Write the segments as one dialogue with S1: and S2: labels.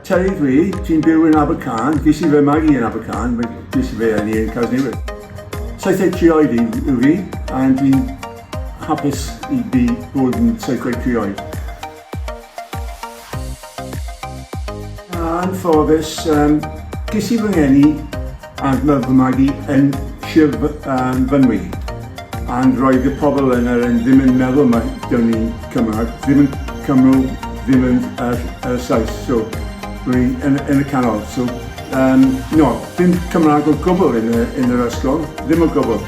S1: Terry dwi, ti'n byw yn Abercan, ges i fy magu yn Abercan, mae ges i fe yn i'n Casnewydd. Saithdeg tri oed i yw fi, a dwi'n hapus i fi bod yn saithdeg tri oed. anffodus, um, ges i fy ngeni and love fy magu yn Sir um, Fynwy. And roedd y pobl yn yr yn ddim yn meddwl mae dyn ni'n Cymraeg, ddim yn Cymru, ddim yn yr, yr Saes. So, roedd yn, yn y canol. So, Yym, no, dim Cymraeg o gwbl yn y yn yr ysgol, ddim o gwbl.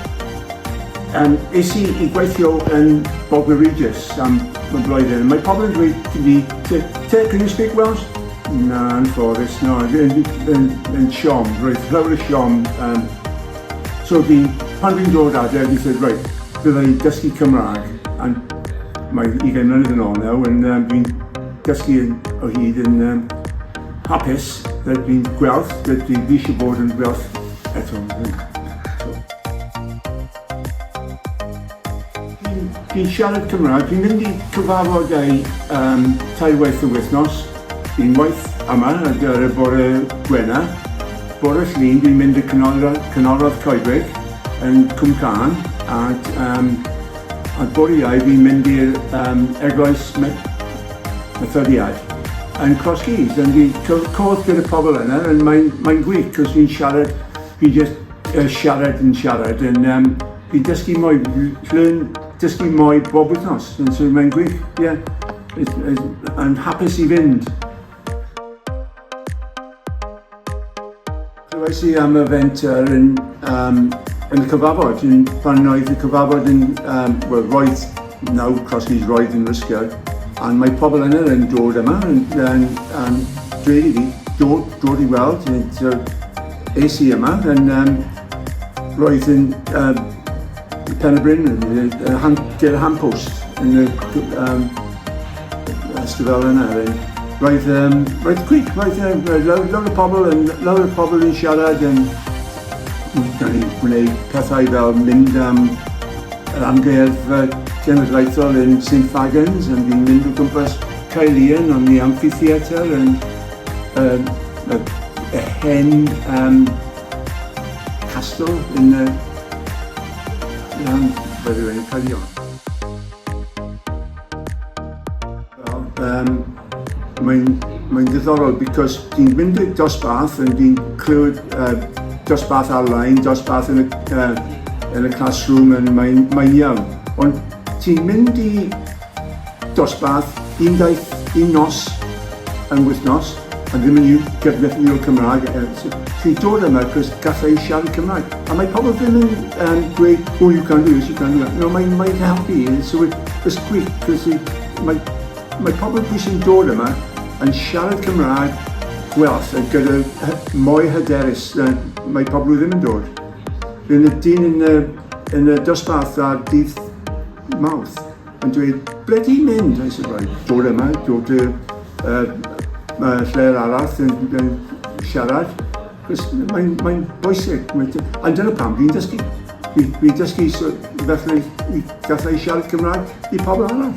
S1: Yym, es i i gweithio yn Bognor Regis am am blwyddyn, mae pobl yn dweud i fi, T- Tara, can you speak Welsh? Na, anffodus, na, yn yn yn siom, roedd llawer o siom, yym, so fi, pan fi'n dod adre, fi said, reit, fydda i'n dysgu Cymraeg, and mae ugain mlynedd yn ôl nawr, and yym, fi'n dysgu yn o hyd yn yym, Hapus, fel dwi'n gweld, fel dwi eisiau bod yn gweld eto. Dwi'n siarad Cymraeg, dwi'n mynd i cyfarfod ei um, tair waith y wythnos. Dwi'n waith yma ar gyfer y bore gwena. Bore llun dwi'n mynd i canolradd, canolradd coedwig yn Cwm Can ac um, a bore iau dwi'n mynd i'r um, eglwys hyfforddiant yn cosgi dan di cwrdd gyda pobl yna and mae'n mae'n gwych cos fi'n siarad fi'n just uh, siarad yn siarad yn um, fi'n dysgu mwy learn dysgu mwy bob wythnos and so mae'n gwych yeah yn hapus i fynd Clywais i am y fenter yn, um, yn y cyfafod, yn, pan oedd y cyfafod yn, um, well, roedd nawr Crosskeys roedd yn rysgio, ond mae pobl yna yn dod yma yn, yn, yn dweud i fi, dod, dod i weld, yn, so, es i yma, yn, um, roedd yn, um, Pen y Bryn, ger y Han Post, yn y ystifel yna. Roedd, um, roedd gwych, roedd, um, roedd lawer o pobl yn, lawer o pobl yn siarad yn, da ni'n gwneud pethau fel mynd am yr amgueddfa genedlaethol yn St Fagans, yn fi'n mynd o gwmpas Caelian, ond ni amphitheatr yn, um, y, y hen um, Castle yn y Rhan Fyddin Cyrion. Wel, um, mae'n mae ddiddorol because ti'n mynd i'r dosbarth yn ti'n clywed uh, dosbarth ar-lein, dosbarth yn y, uh, yn y classroom yn mae'n mae iawn. Ond ti'n mynd i Dosbarth, un daith, un nos yn wythnos, a ddim yn iaith gydnethiniol Cymraeg, chi'n dod yma achos galla i siarad Cymraeg. A mae pobl ddim yn um, dweud, oh you can do this, you can do that. No, mae'n mae helpu, so it, it's gwych, cos mae, mae pobl pwy sy'n dod yma yn siarad Cymraeg gwellt a gyda mwy hyderus, mae pobl ddim yn dod. Rwy'n y dyn yn y, yn y dosbarth ar dydd Mawrth yn dweud, ble ti'n mynd? I said, right, dod yma, dod y uh, lle'r arall yn, yn siarad. Cos mae'n mae bwysig. A dyna pam fi'n dysgu. Fi'n fi dysgu so, felly i gallu siarad Cymraeg i pobl arall.